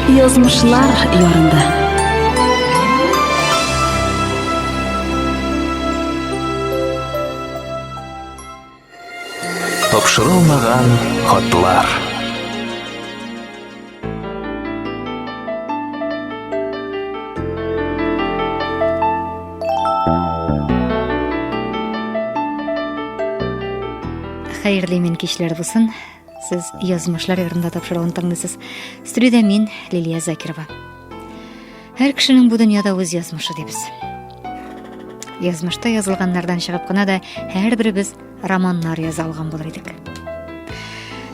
Язмышлар ярында. Тапшырылмаган хатлар. Хәерле мин кичләр булсын. Сез язмышлар ярында тапшыруын тыңлыйсыз. Студиядә мин Лилия Закирова. Һәр кешенең бу дөньяда үз язмышы дибез. Язмышта язылганнардан чыгып кына да һәрберебез романнар яза алган булыр идек.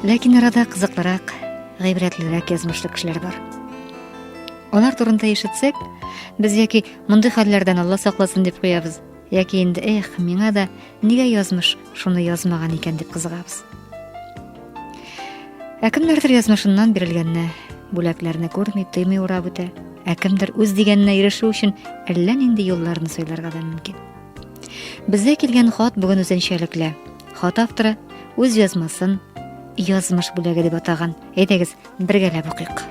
Ләкин арада кызыклырак, гыйбрәтлерәк язмышлы кешеләр бар. Алар турында ишетсәк, без яки мондый хәлләрдән Алла сакласын дип куябыз, яки инде эх, миңа да нигә язмыш шуны язмаган икән дип кызыгабыз. Ә кемнәрдер язмышыннан бирелгәнне, бүләкләрне күрми, тыймый урап үтә, ә кемдер үз дигәненә ирешү өчен әллә нинди юлларны сайларга да мөмкин. Безгә килгән хат бүген үзенчәлекле. Хат авторы үз язмасын язмыш бүләге дип атаган. Әйдәгез, бергәләп укыйк.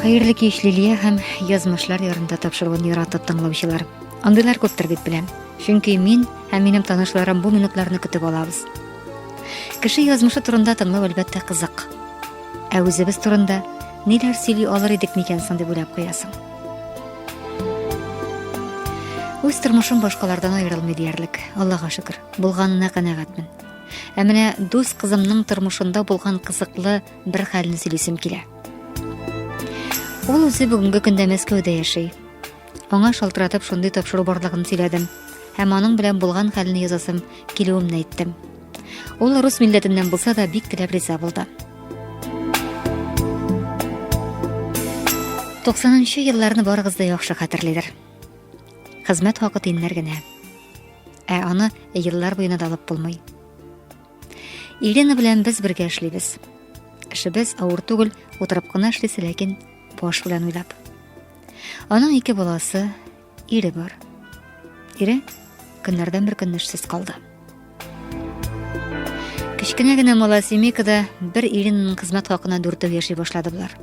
Хәерле кич Лилия һәм язмышлар ярында тапшыруын яратып тыңлаучылар. Андыйлар күптер дип беләм. Чөнки мин һәм минем танышларым бу минутларны көтеп алабыз. Кеше язмышы турында тыңлау әлбәттә кызык. Ә үзебез турында ниләр сөйли алыр идек микән соң дип уйлап куясың. Үз тормышым башкалардан аерылмый диярлек. Аллага шөкер, булганына канәгатьмен. Ә менә дус кызымның тормышында булган кызыклы бер хәлне сөйлисем килә. Ул үзе бүгенге көндә Мәскәүдә яши. Аңа шалтыратып шундый тапшыру барлыгын сөйләдем һәм аның белән булган хәлне язасым килүемне әйттем. Ул рус милләтеннән булса да бик теләп риза булды. 90 нчы елларны барыгыз да яхшы хәтерлидер. Хезмәт хакы тиннәр генә. Ә аны еллар буена да алып булмый. Елена белән без бергә эшлибез. Эшебез авыр түгел, утырып кына эшлисе, ләкин баш белән уйлап. Аның ике баласы, ире бар. Ире көннәрдән бер көнне эшсез калды. Кечкенә генә мала семейкада бер иреннең хезмәт хакына дүртәү яши башлады болар.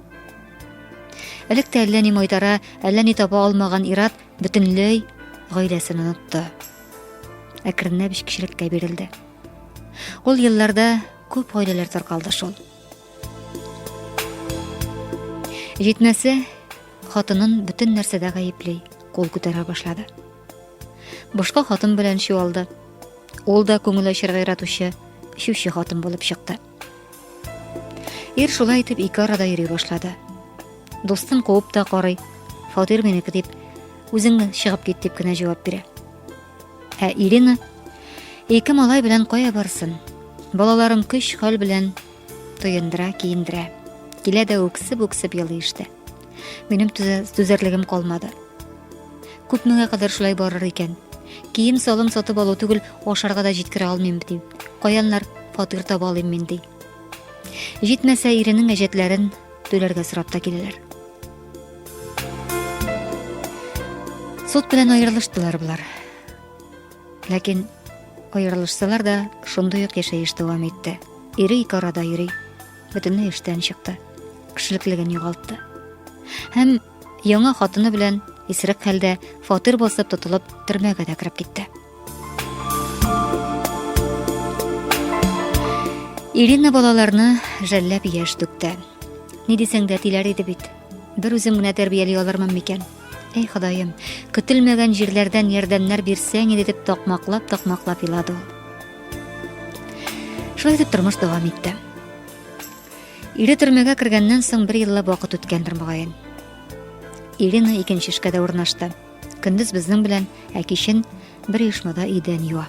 Элек тә әллә ни майтара, әллә ни таба алмаган Ират бөтенләй гаиләсен онытты. Әкренләп эчкечелеккә бирелде. Ул елларда күп гаиләләр таркалды шул. Җитмәсә, хатынын бөтен нәрсәдә гаепли, кул күтәрә башлады. Башка хатын белән чуалды. Ул да күңел ачырга яратучы, шүче хатын булып чыкты. Ир шулай итеп ике арада йөри башлады. Дустын куып та карый, фатир минеке дип, үзең чыгып кит дип кенә җавап бирә. Ә Ирина ике малай белән кая барсын? Балаларын көч хәл белән тоендыра, киендерә. Килә дә үксеп-үксеп елый иште. Минем түзәрлегем калмады. Күп меңә кадәр шулай барыр икән. Кием салым сатып алу түгел, ашарга да җиткерә алмыйм ди. Каяннар фатир таба алыйм мин ди. Җитмәсә, иренең әҗәтләрен түләргә сорап та киләләр. Сот белән аерылыштылар болар. Ләкин аерылышсалар да, шундый ук яшәеш дәвам итте. Ире ике арада йөри, бөтенләй эштән чыкты. Кешелеклеген югалтты. Һәм яңа хатыны белән исерек хәлдә фатир басып тотылып, төрмәгә дә кереп китте. Ирина балаларны жәлләп яшь түкте. Ни дисәң дә тиләр иде бит. Бер үзем генә тәрбияли алырмын микән? Әй Ходаем, көтелмәгән җирләрдән ярдәмнәр бирсәң иде дип такмаклап-такмаклап елады ул. Шулай итеп тормыш дәвам итте. Ире төрмәгә кергәннән соң бер еллап вакыт үткәндер мөгаен. Ирина икенче эшкә дә урнашты. Көндез безнең белән, ә кичен бер оешмада идән юа.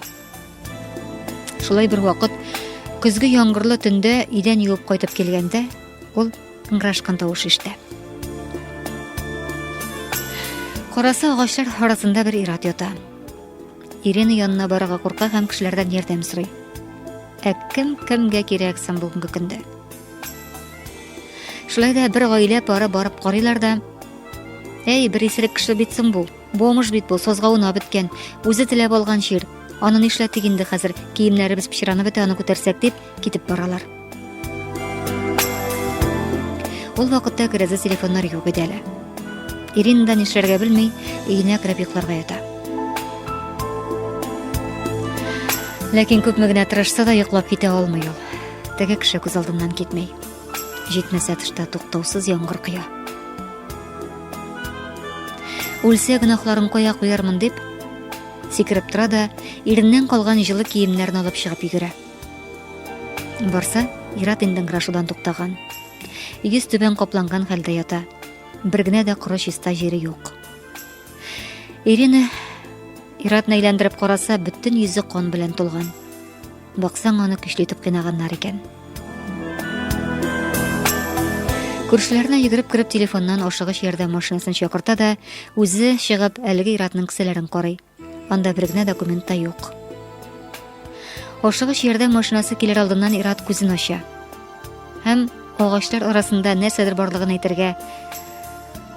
Шулай бер вакыт көзге яңгырлы төндә идән юып кайтып килгәндә, ул ыңгырашкан тавыш ишетә. Караса агачлар арасында бер ират ята. Ирина янына барырга курка һәм кешеләрдән ярдәм сорый. Ә кем кемгә кирәк соң бүгенге көндә? Шулай да бер гаилә пары барып карыйлар да, Әй, бер исерек кеше бит соң бу. Бомыш бит бу, созга уна беткән. Үзе теләп алган җир. Аны нишләтик инде хәзер? Киемнәребез пычранып бетә, аны күтәрсәк дип китеп баралар. Ул вакытта керәзә телефоннар юк иде әле. Ирина да нишләргә белми, өенә кереп йокларга ята. Ләкин күпме генә тырышса да йоклап китә алмый ул. Теге кеше күз алдымнан китмей. Җитмәсә тышта туктаусыз яңгыр коя. Үлсә гөнаһларын кая куярмын дип, сикереп тора да, иреннән калган җылы киемнәрен алып чыгып йөгерә. Барса, Ират инде грашудан туктаган. Йөз түбән капланган хәлдә ята. Бер генә дә коры чиста җире юк. Ирина Иратны әйләндереп караса, бөтен йөзе кан белән тулган. Баксаң, аны көчле итеп кыйнаганнар икән. Күршеләренә йөгереп кереп телефоннан ашыгыч ярдәм машинасын чакырта да, үзе чыгып әлеге иратның кесәләрен карый. Анда бер генә документ та юк. Ашыгыч ярдәм машинасы килер алдыннан ират күзен ача. Һәм агачлар арасында нәрсәдер барлыгын әйтергә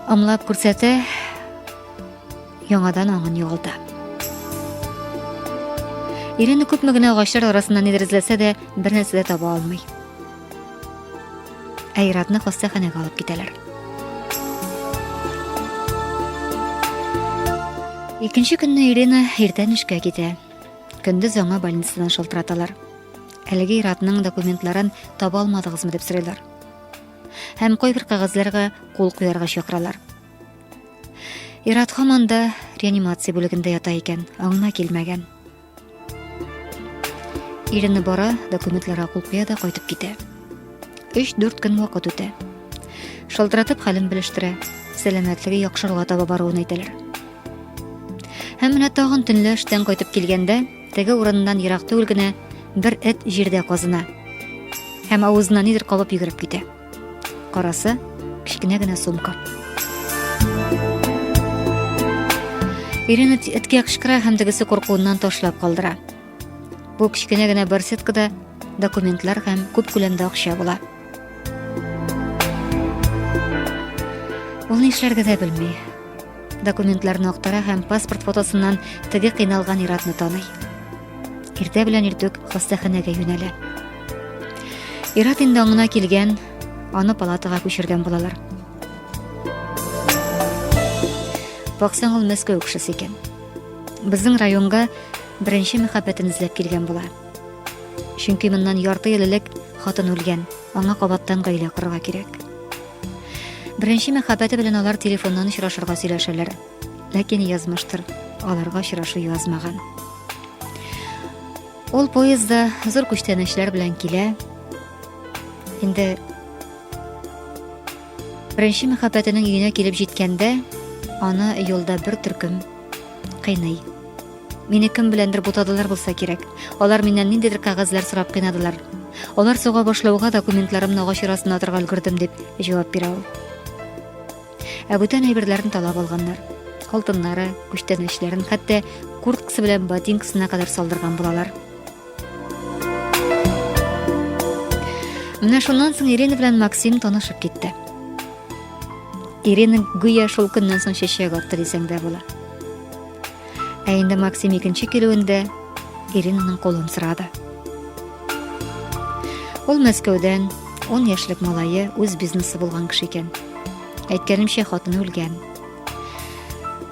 ымлап күрсәтә, яңадан аңын югалта. Ирина күпме генә агачлар арасыннан эзрезләсә дә, бер нәрсә дә таба алмый. Ә Иратны хастаханәгә алып китәләр. Икенче көнне Ирина иртән эшкә китә. Көндез аңа больницадан шалтыраталар. Әлеге Иратның документларын таба алмадыгызмы дип сорыйлар. Һәм кайбер кагазьләргә кул куярга чакыралар. Ират хаман да реанимация бүлегендә ята икән, аңына килмәгән. Иренне бара, документларга кул куя да кайтып китә. 3-4 көн вакыт үтә. Шалтыратып хәлен белештерә, сәламәтлеге яхшыруга таба баруын әйтәләр. Һәм менә тагын төнлә эштән кайтып килгәндә, теге урыннан ерак түгел генә бер эт җирдә казына һәм авызына нидер кабып йөгереп китә. Карасы, кечкенә генә сумка. Ирина эткә кычкыра һәм тегесе куркуыннан ташлап калдыра. Бу кечкенә генә барсеткада документлар һәм күп күләмдә акча була. Ул нишләргә дә белми. Документларны актара һәм паспорт фотосыннан теге кыйналган иратны таный. Иртә белән иртүк хастаханәгә юнәлә. Ират инде аңына килгән, аны палатага күчергән булалар. Баксаң ул Мәскәү кешесе икән. Безнең районга беренче мәхәббәтен эзләп килгән була. Чөнки моннан ярты ел элек хатын үлгән, аңа кабаттан гаилә корырга кирәк. Беренче мәхәббәте белән алар телефоннан очрашырга сөйләшәләр. Ләкин язмыштыр, аларга очрашу язмаган. Ул поездда зур күчтәнәчләр белән килә. Инде беренче мәхәббәтенең өенә килеп җиткәндә, аны юлда бер төркем кыйный. Мине кем беләндер бутадылар булса кирәк. Алар миннән ниндидер кәгазьләр сорап кыйнадылар. Алар суга башлауга документларымны агач арасына атырга өлгердем дип җавап бирә ул. Ә бүтән әйберләрен талап алганнар. Алтыннары, күчтәнәчләрен, хәтта курткасы белән ботинкасына кадәр салдырган булалар. Менә шуннан соң Ирина белән Максим танышып китте. Ирина гүя шул көннән соң чәчәк атты дисәң дә була. Ә инде Максим икенче килүендә Иринаның кулын сорады. Ул Мәскәүдән 10 яшьлек малае үз бизнесы булган кеше икән. Әйткәнемчә, хатыны үлгән.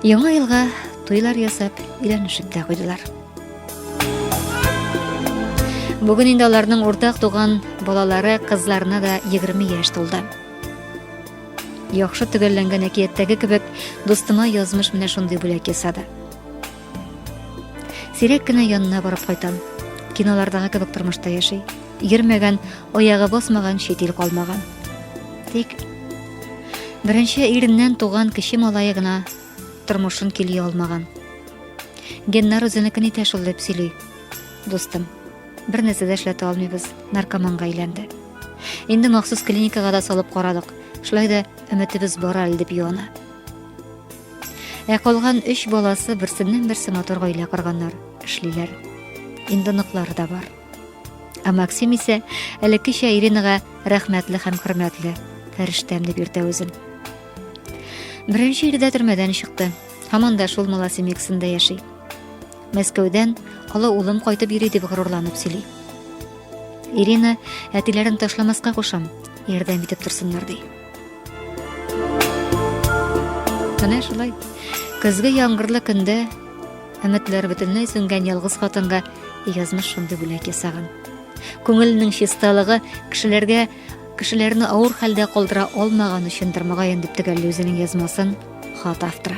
Яңа елга туйлар ясап, өйләнешеп тә куйдылар. Бүген инде аларның уртак туган балалары кызларына да 20 яшь тулды. Яхшы төгәлләнгән әкияттәге кебек, дустыма язмыш менә шундый бүләк ясады. Сирәк кенә янына барып кайтам. Кинолардагы кебек тормышта яши. Йөрмәгән, аягы басмаган, чит ил калмаган. Тик беренче иреннән туган кече малае гына тормышын кили алмаган. Геннар үзенекен итә шул дип сөйли. Дустым, Бер нәрсә дә эшләтә алмыйбыз, наркоманга әйләнде. Инде махсус клиникага да салып карадык. Шулай да өметебез бар әле дип юана. Ә калган 3 баласы берсеннән-берсе матур гаилә корганнар, эшлиләр. Инде ныклары да бар. Ә Максим исә элеккечә Иринага рәхмәтле һәм хөрмәтле, фәрештәм дип йөртә үзен. Беренче ирдә төрмәдән чыкты. Һаман да шул Маласемексында яши. Мәскәүдән олы улым кайтып йөри дип горурланып сөйли. Ирина әтиләрен ташламаска кушам, ярдәм итеп торсыннар ди. Менә шулай. Көзге яңгырлы көндә өметләр бөтенләй сүнгән ялгыз хатынга язмыш шундый бүләк ясаган. Күңелнең чисталыгы кешеләргә Кешеләрне авыр хәлдә калдыра алмаган өчендер мөгаен дип төгәлли үзенең язмасын хат авторы.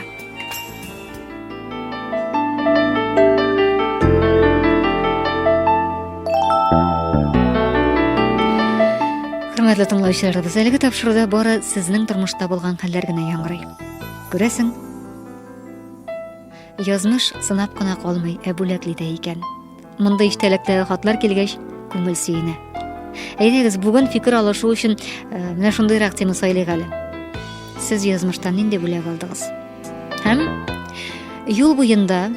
Хөрмәтле тыңлаучыларыбыз, әлеге тапшыруда бары сезнең тормышта булган хәлләр генә яңгырый. Күрәсең, Язмыш сынап кына калмый, ә бүләкли дә икән. Мондый иштәлектәге хатлар килгәч, күңел сөенә. Әйдәгез, бүген фикер алышу өчен э, менә шундыйрак тема сайлыйк әле. Сез язмыштан нинди бүләк алдыгыз? Һәм юл буенда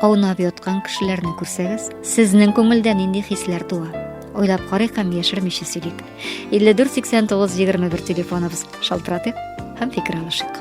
аунап яткан кешеләрне күрсәгез, сезнең күңелдә нинди хисләр туа? Ойлап карыйк һәм яшермичә сөйлик. 54 89 21 телефоныбыз шалтыратыйк һәм фикер алышыйк.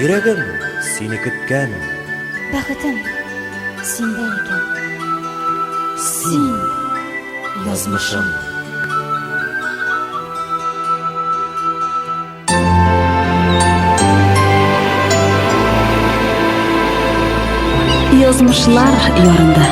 Йөрәгем сине көткән. Бәхетем синдә икән. Син язмышым. Язмышлар ярында.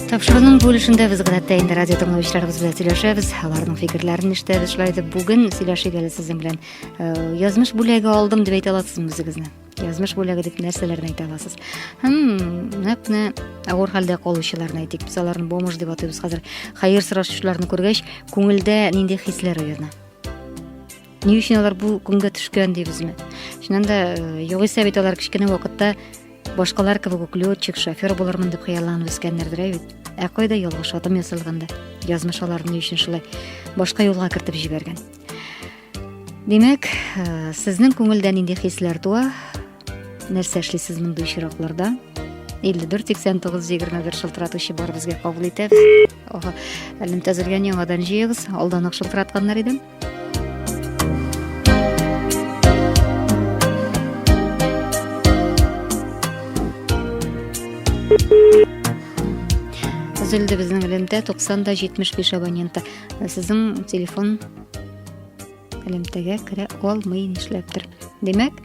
Тапшыруның бу өлешендә без гадәттә инде радио тыңлаучыларыбыз белән сөйләшәбез, аларның фикерләрен ишетәбез. Шулай итеп, бүген сөйләшик әле сезнең белән. Э, язмыш бүләге алдым дип әйтә аласызмы үзегезне? Язмыш бүләге дип нәрсәләрне әйтә аласыз? Хм, нәкъ менә авыр хәлдә калучыларны әйтик. Без аларны бомж дип атыйбыз хәзер. Хәер сорашучыларны күргәч, күңелдә нинди хисләр уяна? Ни өчен алар бу көнгә төшкән дибезме? Чыннан да, э, югыйсә бит алар кечкенә вакытта башкалар кебек үк летчик, шофер булырмын дип хыялланып үскәннәрдер ә бит. Ә кайда ялгыш адым ясалганда, язмыш аларны өчен шулай башка юлга кертеп җибәргән. Димәк, э, сезнең күңелдә нинди хисләр туа? Нәрсә эшлисез мондый очракларда? 54 89 21 шылтыратучы бар безгә кабул итәбез. Ага, әлем тәзелгән яңадан җыегыз. Алдан ук шылтыратканнар идем. үзелде безнең элемтә 90 да 75 абоненты сезнең телефон элемтәгә керә алмый нишләптер димәк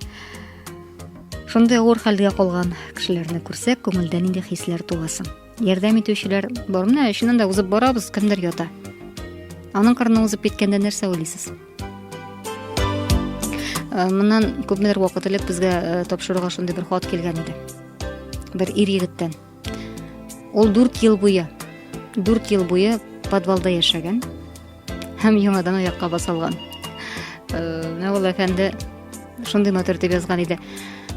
шундый авыр хәлгә калган кешеләрне күрсәк күңелдә нинди хисләр туасын Ярдәм итүчеләр бар. Менә эшеннән дә узып барабыз, кемдер ята. Аның кырына узып киткәндә нәрсә уйлыйсыз? Э, моннан күпмедер вакыт элек безгә э, тапшыруга шундый бер хат килгән иде. Бер ир егеттән. Ул 4 ел буе 4 ел буе подвалда яшәгән. һәм яңадан аякка басылган. Мәгул әфәнде шундый матур дип язган иде.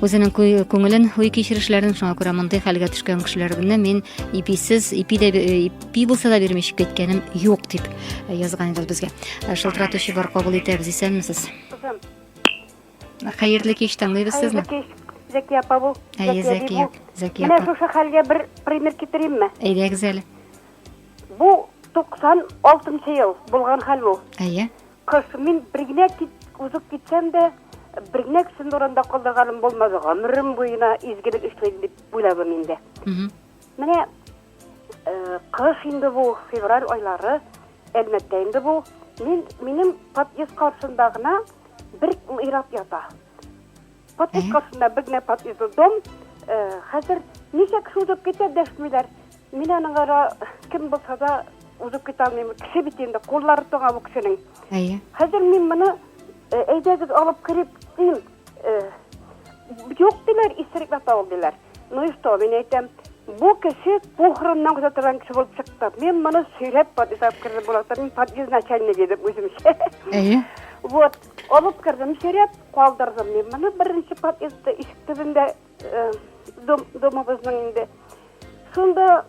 Үзенең күңелен, уй кичерешләрен шуңа күрә мондай хәлгә төшкән кешеләрне мин иписез, ипи дә ипи булса да бирмей чыгып киткәнем юк дип язган иде безгә. Шылтыратучы бар кабул итәбез, исәнмесез. Хәерле кич, тыңлыйбыз сезне. Зәки апа бу. Әйе, Зәки. Зәки. Менә шушы хәлгә бер пример китеримме? Әйдәгез әле. Бу 96 нчы ел булган хәл бу. Әйе. Кыш мин бер генә узып китсәм дә, бер генә кешене урында калдырганым булмады. Гомерем буена изгелек эшлим дип уйладым инде. Менә э, кыш инде бу, февраль айлары, әлмәттә инде бу. Мин, минем подъезд каршында гына бер мирап ята. Подписка астында бер генә подъездлы дом. Э, хәзер ничә кеше узып китә дәшмиләр. Мин аның ара кем булса да узып китә алмыйм. Кеше бит инде, куллары тоңа бу кешенең. Әйе. Хәзер мин моны э, әйдәгез алып кереп дим. Э, юк диләр, исерек ята ул диләр. Ну и что, мин әйтәм, бу кеше похороннан күзә торган кеше булып чыкты. Мин моны сөйләп подъездга кердем, була мин подъезд начальнигы идем үземчә. Әйе. Вот. Алып кердем сөйрәп, калдырдым мин моны беренче подъездда, ишек төбендә дом, домыбызның инде. Шунда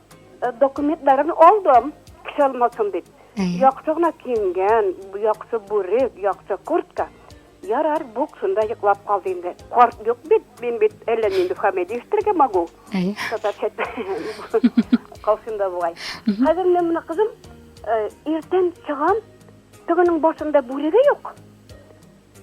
документларын алдым, кеше алмасын дип. Яхшы гына киенгән, яхшы бүрек, яхшы куртка. Ярар, бук шунда йоклап калды инде. Карт юк бит, мин бит әллә нинди фамилия ишетергә могу. Татарча калсында бугай. Хәзер мин моны кызым иртән чыгам, Тегенең башында бүреге юк,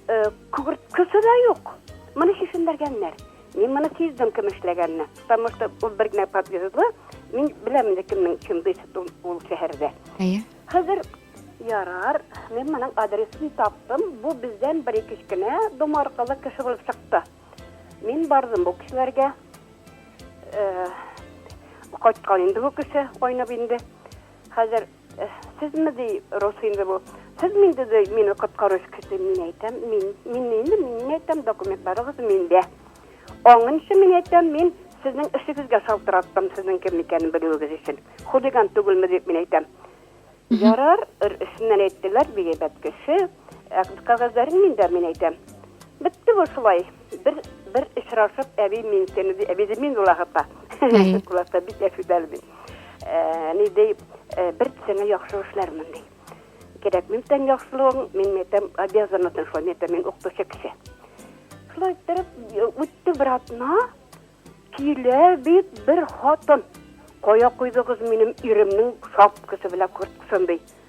э, күгерткесе дә юк. Моны чишендергәннәр. Мин моны сиздем кем эшләгәнне. Потому что ул бер генә подъездлы, мин беләм инде кемнең чын беситун ул шәһәрдә. Әйе. Хәзер ярар, мин моның адресын таптым. Бу бездән бер кечкенә домаркалы кеше булып чыкты. Мин бардым бу кешеләргә. Э, кайткан инде бу кеше, айнып инде. Хәзер Сезме, ди, рус инде бу. Сезме инде, ди, мине коткаруч кеше? Мин әйтәм, мин. Мин инде, мин әйтәм, документларыгыз миндә. Аңынчы мин әйтәм, мин сезнең эшегезгә шалтыраттым, сезнең кем икәнен белүегез өчен. Хулиган түгелме дип мин әйтәм. Ярар, эшеннән әйттеләр, бик әйбәт кеше. Ә кәгазьләрең миндә, мин әйтәм. Бетте бу шулай. Бер, бер очрашып, әби мин сені, ди, әби ди мин була хапа. Куласа бик әфидәл бит. Ә, Ни ди, ә, бер сеңа яхшы эшләрмен ди. Кирәк мин тән яхшылыгың, мин мәйтәм обязанатын шулай мәйтәм мин укытучы кеше. Шулай иттереп е, үтте бер атна, килә бит бер хатын. Кая куйдыгыз минем иремнең шапкасы белән курткасын ди.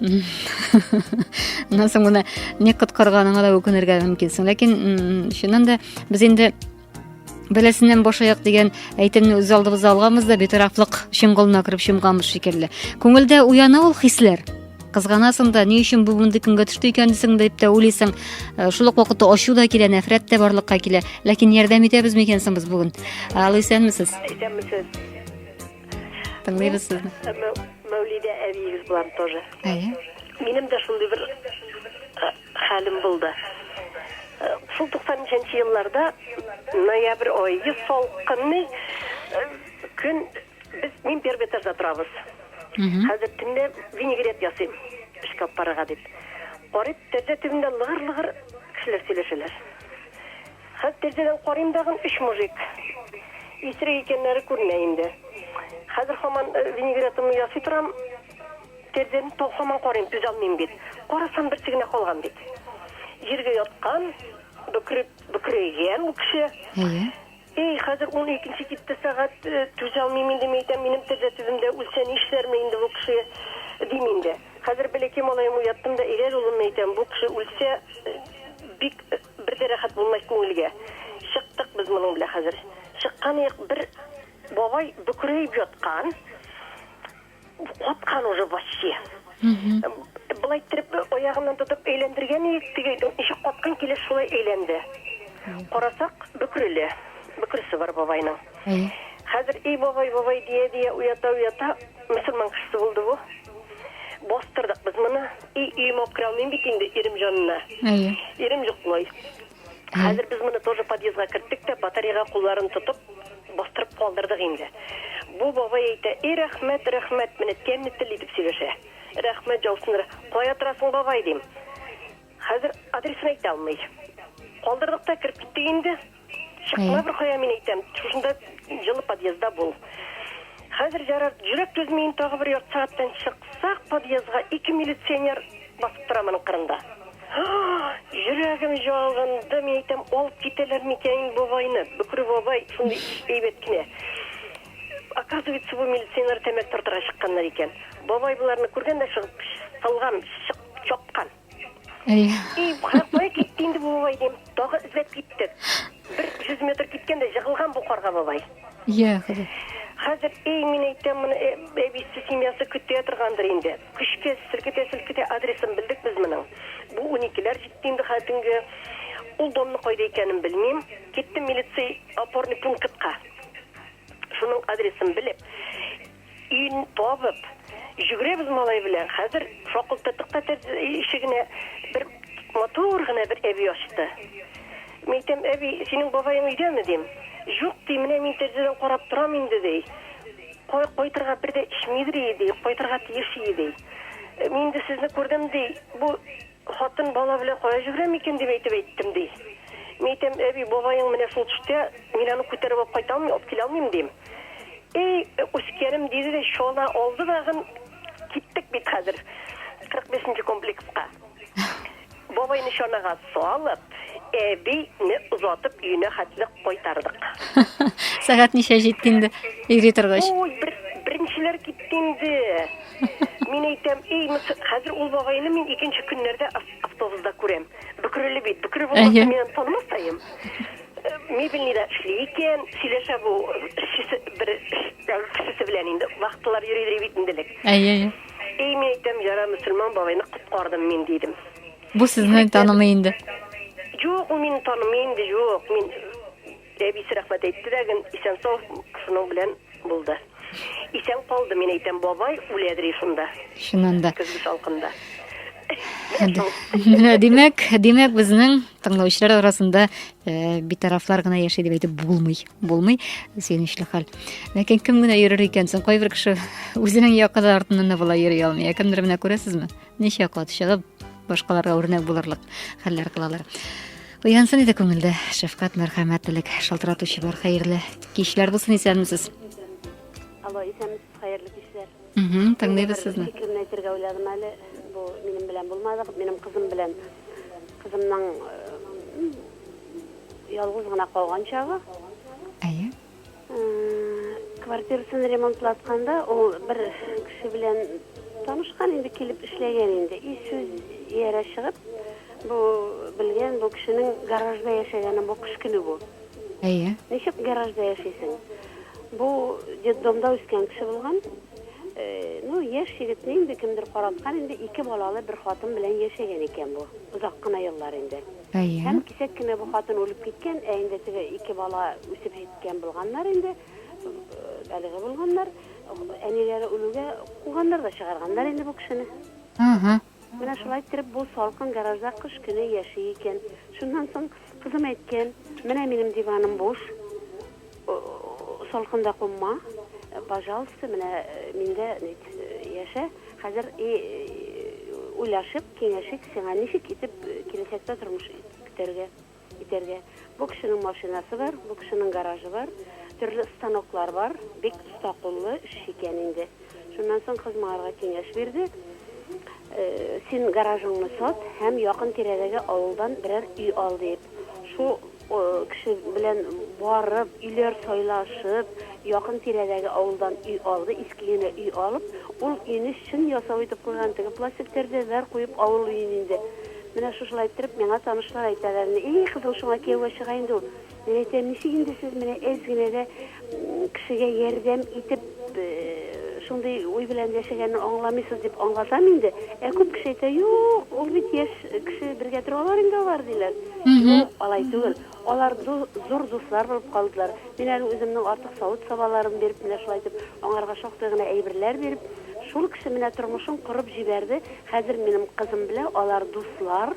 аннан соң моны ник коткарганыңа да үкенергә мөмкинсең ләкин чыннан да без инде бәласеннән башаяк дигән әйтемне үз алдыбызда алганбыз да битарафлык чоңгылына кереп чумганбыз шикелле күңелдә уяна ул хисләр кызганасың да ни өчен бу мондый көнгә төште икән дисең дип тә уйлыйсың э, шул ук вакытта ачу да килә нәфрәт тә барлыкка килә ләкин ярдәм итәбезме икән соң без бүген ал исәнмесез исәнмесез Тыңлыйбыз сезне. Мәүлидә әбиегез белән тоже. Әйе. Минем дә шундый бер э, хәлем булды. Э, шул 90 елларда ноябрь айы салкынны э, көн без мин первый этажда торабыз. Хәзер төнлә винегрет ясыйм. Эшкә алып барырга дип. Карыйм, тәрәзә төбендә лыгыр-лыгыр кешеләр сөйләшәләр. Хәт тирдәдән карыйм дагын өч мужик исерек икәннәре күренә инде. Хәзер хаман винегретымны ясый торам, тирдән тол хаман карыйм түзалмыйм бит. Карасам берсе генә калган бит. Җиргә яткан, бөкреп бөкрәйгән ул кеше. Әйе. Эй, хәзер ун икенче китте сәгать, түзалмыйм инде мин әйтәм, минем тирдә төбемдә үлсә нишләрмен инде бу кеше, дим инде. Хәзер бәләкәй малаем уяттым да, әйдә әле улым әйтәм, бу кеше үлсә бик Бер дә рәхәт булмай күңелгә. Чыктык без моның белән хәзер. Чыкканыек, бер бабай бөкрәеп яткан, каткан уже ваче. Болай иттереп аягыннан тотып әйләндергән идек, теге ничек каткан килеш шулай әйләнде. Карасак, бөкреле. Бөкресе бар бабайның. Хәзер, эй бабай, бабай дия-дия уята-уята, мөселман кешесе булды бу. Бастырдык без моны. И, и мокрый алмыйм бит инде ирем җанына. Әйе. Ирем йоклый. Хәзер без моны тоже подъездга керттек тә, батареяга кулларын тотып, бастырып калдырдык инде. Бу бабай әйтә, и рәхмәт, рәхмәт, менә тәмле тел итеп сөйләшә. Рәхмәт җаусын, кая торасың бабай, дим. Хәзер адресын әйтә алмый. Калдырдык та кереп киттек инде. Чыкма бер кая мин әйтәм. Шушында җылы подъездда бул. Хәзер җарар, җөрәк түзмиен тагы бер ярты сәгатьтән чыксак подъездга ике милиционер басып тора моның кырында. Җөрәгем җалынды, мин әйтәм, алып китәләр микән бу байны? Бөкре бабай шундый әйбәт кенә. Оказывается, бу милиционер тәмәк тартырга чыкканнар икән. Бабай боларны күргән дә чыгып, салган, чык, чапкан. И, кая китте инде бу бабай дим. Тагы эзләп киттек. Бер 100 метр киткәндә җыгылган бу карга бабай. Я, Ходай. Хәзер эй мин әйтәм моны э, әбисе семьясы көтә торгандыр инде. Көчкә селкетә селкетә адресын белдек без моның. Бу 12ләр җитте инде хәзер төнге. Ул домны кайда икәнен белмим. Киттем милиция опорный пунктка. Шуның адресын белеп, Ин табып, җөгрәбез малай белән. Хәзер шакылтырдык та тәрз ишегенә. Бер матур гына бер әби ачты. Мин әйтәм, әби, синең бабаең өйдәме, дим. Җук, ди, менә мин тәрзәдән карап торам инде, ди. Кай кайтырга бер дә эчмидер ие, ди, кайтырга тиеш ие, ди. Мин инде сезне күрдем, ди, бу Хатын бала белән кая җигрәм икән дип әйтеп әйттем, ди. Мин әйтәм, әби, бабаең менә шул төштә, мин аны күтәреп алып кайта алмыйм, алып килә алмыйм, дим. Әй, үскәнем, диде дә чана алды тагын, киттек бит хәзер 45 нче комплекска. Бабайны чанага салып, әби не озатып өенә хәтле кайтардык. Сәгать ничә җитте инде, йөри торгач? Ой, бер, беренчеләр китте инде. Мин әйтәм, эй, хәзер ул бабайны мин икенче көннәрдә автобуста күрәм. Бөкреле бит. Бөкре булмаса, мин аны танымастаем. Э, Мебельныйда эшли икән, сөйләшә бу бер кешесе белән инде. Вахталар йөридер бит инде элек. Әйе, әйе. Эй, мин әйтәм, яра мөселман бабайны коткардым мин, дидем. Бу сезне танымый инде. Юк, ул мине танымый инде, юк. Мин Әбисе рәхмәт әйтте дә ген исән-сау шуның белән булды. Исән калды, мин әйтәм, бабай үлә дри шунда. Чыннан да. Көзге салкында. Менә димәк, димәк безнең тыңлаучылар арасында э, битарафлар гына яши дип әйтеп булмый. Булмый. Сөенечле хәл. Ләкин кем генә йөрер икән соң? Кайбер кеше үзенең якыны артыннан да була йөри алмый. Ә кемдер менә күрәсезме? Ничә кат чыгып, башкаларга үрнәк булырлык хәлләр кылалар. Уянсын иде күңелдә шәфкать, мәрхәмәтлелек, шалтыратучы бар хәерле кичләр булсын, исәнмесез. Алло, исәнмесез, хәерле кичләр. Угу, тыңлыйбыз сезне. Фикерне әйтергә уйладым әле. Бу минем белән булмады, минем кызым белән. Кызымның ялгыз гына калган чагы. Әйе. Квартирасын ремонтлатканда ул бер кеше белән танышкан инде, килеп эшләгән инде. И сүз иярә чыгып, бу белгән, бу кешенең гаражда яшәгәнен, бу кыш көне бу. Әйе. Ничек гаражда яшисең? Бу детдомда үскән кеше булган. Ну, яшь егетне инде кемдер караткан инде, ике балалы бер хатын белән яшәгән икән бу. Озак кына еллар инде. Әйе. Һәм кисәк кенә бу хатын үлеп киткән, ә инде теге ике бала үсеп җиткән булганнар инде, әлеге булганнар, әниләре үлүгә куганнар да чыгарганнар инде бу кешене. Ага. Менә шулай иттереп бу салкын гаражда кыш көне яши икән. Шуннан соң кызым әйткән, менә минем диваным буш, салкында кунма, пожалуйста, менә миндә яшә, хәзер и уйлашып, Киңәш ит, сиңа ничек итеп киләчәктә тормыш итәргә, итәргә? Бу кешенең машинасы бар, бу кешенең гаражы бар, төрле станоклар бар, бик оста куллы эшче икән инде. Шуннан соң кыз моңарга киңәш бирде, Син гаражыңны сат һәм якын-тирәдәге авылдан берәр өй ал, диеп. Шул Кеше белән барып, өйләр сайлашып, якын-тирәдәге авылдан өй алды, иске генә өй алып, ул өйне чын ясау итеп куйган, теге пластик тәрәзәләр куеп, авыл өен инде. Менә шушылай иттереп, миңа танышлар әйтәләр, И, кызым, шуңа кияүгә чыга инде ул. Мин әйтәм, ничек инде сез менә әз генә дә Кешегә ярдәм итеп шундый уй белән яшәгәнне аңламыйсыз дип аңлатам инде. Ә күп кеше әйтә, юк, ул бит яшь кеше, бергә торалар инде алар, диләр. Юк, алай түгел. Алар зур дуслар булып калдылар. Мин әле үземнең артык савыт-сабаларым биреп, менә шулай итеп, аңарга шактый гына әйберләр биреп, шул кеше менә тормышын корып җибәрде, хәзер минем кызым белә алар дуслар.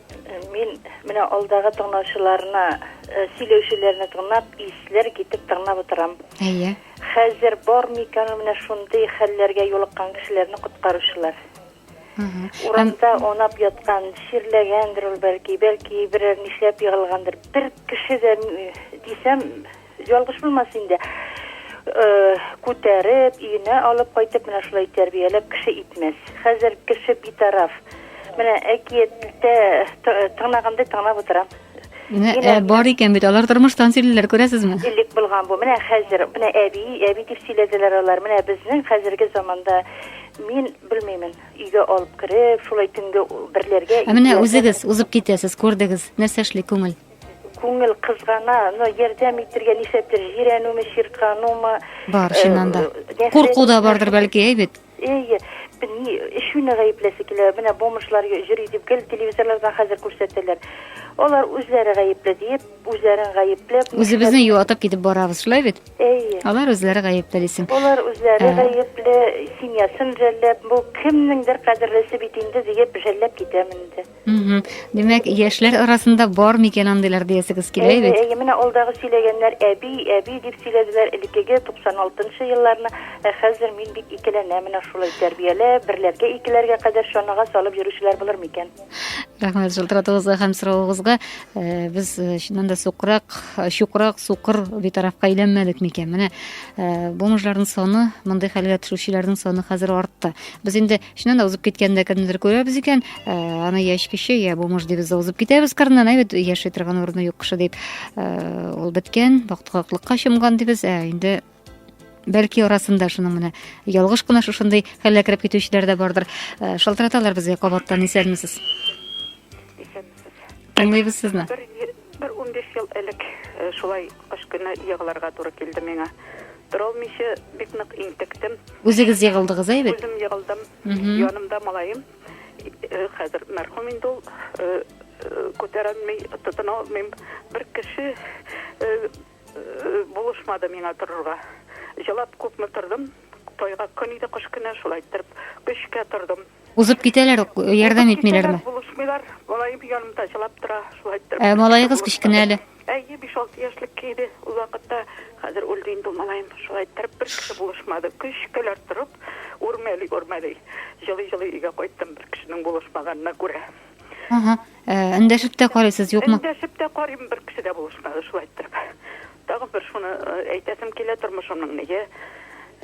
Мин менә алдагы тыңлаучыларны, э, сөйләүчеләрне тыңлап, исләр китеп тыңлап утырам. Әйе. Хәзер бар микән менә шундый хәлләргә юлыккан кешеләрне коткаручылар? Урамда онап яткан, чирләгәндер ул бәлки, бәлки берәр нишләп егылгандыр. Бер кеше дә дисәм, Ялгыш булмас инде. Күтәреп, өенә алып кайтып, менә шулай тәрбияләп кеше итмәс. Хәзер кеше битараф. Менә әкияттә тыңлагандай тыңлап утырам. Менә ә, бар икән бит, алар тормыштан сөйлиләр, күрәсезме? Элек булган бу. Менә хәзер, менә әби, әби дип сөйләделәр алар. Менә безнең хәзерге заманда мин белмимен, өйгә алып кереп, шулай төнге берләргә. Ә менә үзегез узып китәсез, күрдегез, нәрсә эшли күңел? Күңел кызгана, но ярдәм итергә нишләптер, җирәнүме, чирканумы, Бар, чыннан да. нәфрәт Курку да бардыр, шундый. бәлки, әй бит? Әйе, б- ни, эчүне гаепләсе килә, менә бомжлар йө- йөри дип гел телевизорлардан хәзер күрсәтәләр. Алар үзләре гаепле диеп, үзләрен гаепләп, Үзебезне нишләп- юатып китеп барабыз, шулай бит? Әйе. Алар үзләре гаепле дисең. Алар үзләре Ә. гаепле, семьясын жәлләп, бу кемнеңдер кадерлесе бит инде диеп жәлләп китәм инде. Димәк, яшьләр арасында бар микән андыйлар диясегез килә бит? Әйе, менә алдагы сөйләгәннәр әби, әби дип сөйләделәр элеккеге 96 елларны. Ә хәзер мин бик икеләнә менә шулай тәрбияле, берләргә икеләргә кадәр чанага салып йөрүчеләр булыр микән? Рәхмәт шалтыратуыгызга һәм соравыгызга. Э, без э, чыннан да сукрак, э, чукрак, сукыр битарафка әйләнмәдек микән? Менә бу мужларның саны, мондый хәлгә төшүчеләрнең саны хәзер артты. Без инде Шуннан да узып киткәндә кемнедер күрәбез икән, э, аны яшь кеше, я бомж дибез дә узып китәбез кырыннан, әйбәт яши торган урыны юк кеше дип. Э, ул беткән, бактыкаклыкка чумган дибез, ә инде бәлки арасында шуның менә ялгыш кына шушындый хәлгә кереп китүчеләр дә бардыр. Э, шалтыраталар безгә кабаттан исәнмесез. Тыңлыйбыз сезне. Бер 15 ел элек шулай кыш көне егылырга туры килде миңа. Торалмыйча бик нык интектем. Үзегез егылдыгыз әй бит. Үзем егылдым. Янымда малаем. Хәзер мәрхүм инде ул. Күтәрәлми, тотына алмыйм. Бер кеше булышмады миңа торырга. Җылап күпме тордым. Тайга көн иде, кыш көне, шулай иттереп көчкә тордым. Узып китәләр, ярдәм итмиләрме? Булышмыйлар, малаем янымда җылап тора, шулай итеп. Ә малаегыз кечкенә әле? Әйе, 5-6 яшьлек иде ул вакытта. Хәзер үлде инде малаем. Шулай итеп бер кеше булышмады. Көчкәләр торып, үрмәли-үрмәли, җылый-җылый өйгә кайттым бер кешенең булышмаганына күрә. Ага. Ә, Эндәшеп тә карыйсыз, юкмы? Эндәшеп тә карыйм, бер кеше дә булышмады, шулай иттереп. Тагын бер шуны э, әйтәсем килә, тормышымның нигә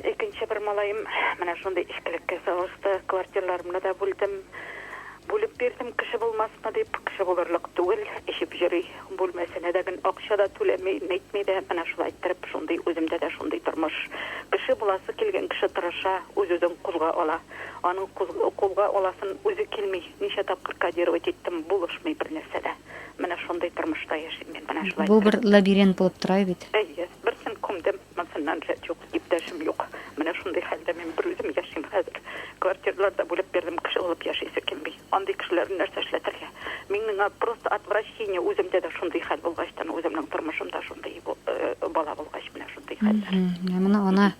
икенче бер малаем менә шундый эчкелеккә салышты, квартираларымны да бүлдем. Бүлеп бирдем, кеше булмасмы дип, кеше булырлык түгел, эчеп йөри, бүлмәсенә дә генә акча да түләми, нитми дә, менә шулай иттереп, шундый үземдә дә шундый тормыш. Кеше буласы килгән кеше тырыша, үз-үзен кузга ала. Аның кузг- кулга аласын үзе килми. Ничә тапкыр кодировать иттем, булышмый бер нәрсә дә. Менә шундый тормышта яшим мин, менә шулай. Бу бер лабиринт булып тора бит. Әйе, берсен күмдем, монсыннан рәт юк, иптәшем юк. Менә шундый хәлдә мин берүзем яшим хәзер. Квартиралар да бүлеп бирдем, кеше булып яшисе килми. Андый кешеләрне нәрсә эшләтергә? Мин миңа просто отвращение, үземдә дә шундый хәл булгачтан, үземнең тормышым да шундый бала булгач, менә шундый хәлләр. Менә моны ана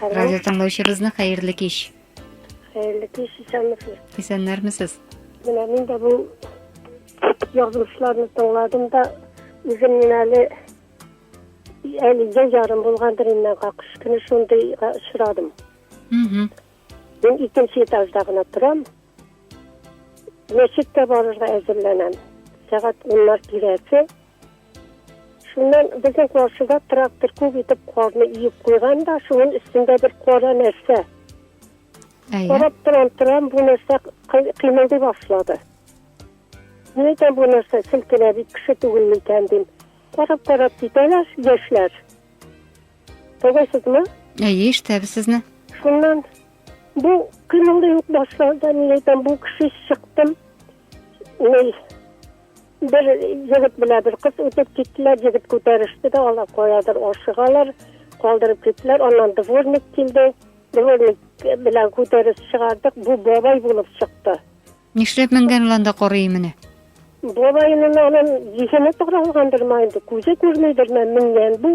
Алло, Радио тыңлаучыбызны хәерле кич. хәерле кич, исәнмесез. Исәннәрмесез? Менә мин дә бу язмышларны тыңладым да, үзем мин әле әле я ярым булгандыр инде, какыш көне шундыйга очрадым. Мгм. Мин икенче этажда гына торам. Мәчеткә барырга әзерләнәм. Сәгать уннар тирәсе Шуннан безнең каршыда трактор күп итеп карны иеп куйган да, шуның өстендә бер кара нәрсә. Әйе. Карап торам, торам, бу нәрсә кыймылдый башлады. Ни икән бу нәрсә селкенә бит кеше түгел микән дим. Карап карап китәләр яшьләр. Тыңлыйсызмы? Әйе, ишетәбез сезне. Шуннан бу кыймылдый ук башлады, ни икән бу кеше чыктым. Ни Бер егет белән бер кыз үтеп киттеләр, егет күтәреште дә, алар каядыр ашыгалар, калдырып киттеләр, аннан дворник килде, дворник белән күтәреш чыгардык, бу бабай булып чыкты. Нишләп менгән ул анда корый менә? Бабайның анын зихене таралгандыр ма инде, күзе күрмидер ме менгән бу,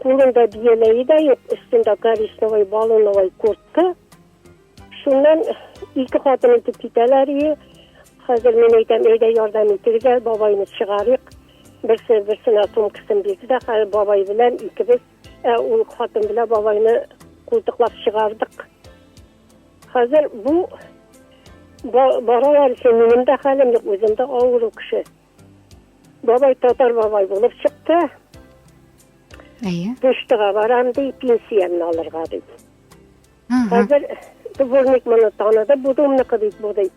кулында бияләе дә юк, өстендә коричневый баллоновый куртка, Шуннан ике хатын итеп китәләр и хәзер мин әйтәм әйдә ярдәм итегез әле бабайны чыгарыйк берсе берсенә сумкасын бирде дә хәзер бабай белән икебез ә ул хатын белән бабайны култыклап чыгардык хәзер бу баралар өчен минем дә хәлем юк үзем дә авыру кеше бабай татар бабай булып чыкты әйе почтага барам ди пенсиямне алырга ди Хәзер дворник моны таныды, бу домныкы бит бу ди.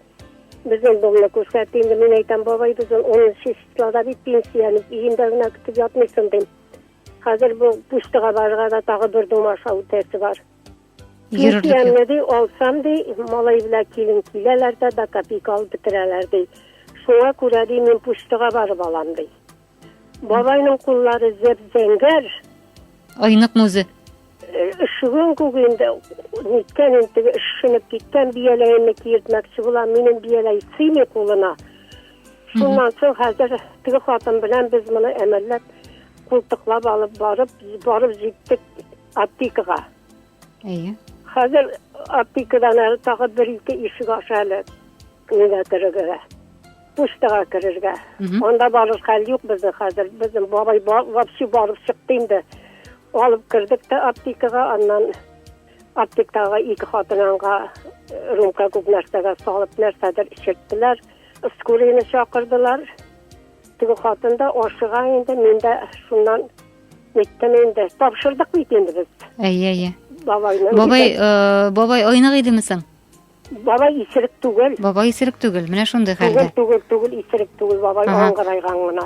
Безнең домны күрсәтте, инде мин әйтәм, бабай, без онынчы числода бит пенсияне өендә генә көтеп ятмыйсың дим. Хәзер бу пуштыга барырга да тагы бер дом аша үтәсе бар. Пенсиямне ди, алсам ди, малай белән килен киләләр дә, да копейка алып бетерәләр ди. Шуңа күрә ди, мин пуштыга барып алам ди. Бабайның куллары зәп-зәңгәр. Айныкмы үзе? Өшегән күк инде, ниткән инде, өшенеп киткән бияләемне киертмәкче була, минем бияләй сыймый кулына. Шуннан соң хәзер теге хатын белән без моны әмәлләп, култыклап алып барып, барып җиттек аптекага. Әйе. Хәзер аптекадан әле тагы бер-ике ишек аша әле Нигә керергә? Почтага керергә. Анда барыр хәл юк безнең хәзер. Безнең бабай вообще барып чыкты инде. Алып кердек тә аптекага, аннан аптектага ике хатынанга э, рюмка күп нәрсәгә салып нәрсәдер эчерттеләр. Скорыйны чакырдылар. Теге хатын да ашыга инде, мин дә шуннан Неттем инде. Тапшырдык бит инде без. Әйе, әйе. Бабайны. Бабай, э, бабай айнык идеме соң? Бабай исерек түгел. Бабай исерек түгел, менә шундый хәлдә. Түгел, түгел, түгел, исерек түгел, бабай ага. аңгырайган гына.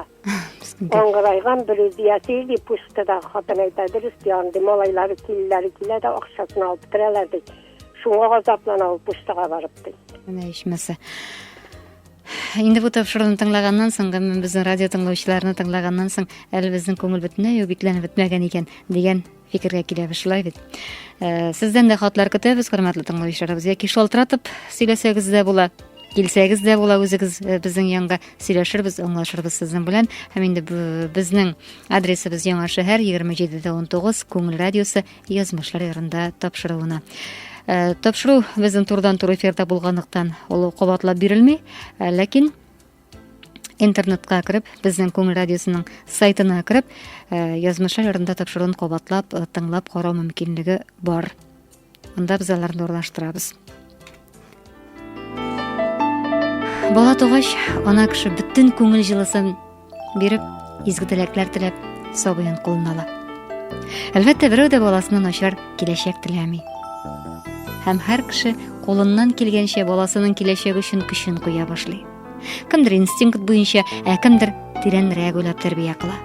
Аңгырайган бер үзе яши, ди, пустыда хатын әйтә, дөрес ди, андый малайлары килеләре килә дә акчасын алып бетерәләр, ди. Шуңа газаплана ул пустыга барып, ди. Менә ичмәсә. Инде бу тапшыруны тыңлаганнан соң, гомумән безнең радио тыңлаучыларны тыңлаганнан соң, әле безнең күңел бөтенләй үк бикләнеп бетмәгән икән дигән фикергә киләбез шулай бит э, сездән дә хатлар көтәбез хөрмәтле тыңлаучыларыбыз яки шалтыратып сөйләсәгез дә була килсәгез дә була үзегез э, безнең янга сөйләшербез аңлашырбыз сезнең белән һәм инде безнең адресыбыз яңа шәһәр егерме җидеде он тугыз күңел радиосы язмышлар ярында тапшыруына э, тапшыру безнең турдан тур эфирда булганлыктан ул кабатлап бирелми ләкин интернетка кереп безнең күңел радиосының сайтына кереп э, язмышлар ярында тапшыруын кабатлап э, тыңлап карау мөмкинлеге бар анда без аларны урлаштырабыз бала тугач ана кеше бөтен күңел җылысын биреп изге теләкләр теләп сабыен кулына ала әлбәттә берәү дә баласына начар киләчәк теләми һәм һәр кеше кулыннан килгәнчә баласының киләчәге өчен көчен куя башлый Кемдер инстинкт буенча, ә кемдер тирәнрәк уйлап тәрбия кыла.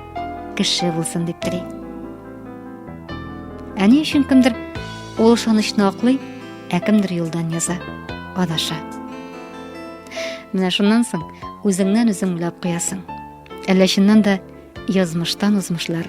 Кеше булсын дип тели. Ә ни өчен кемдер ул ышанычны аклый, ә кемдер юлдан яза, адаша. Менә шуннан соң үзеңнән үзең уйлап куясың. Әллә чыннан да язмыштан узмышлар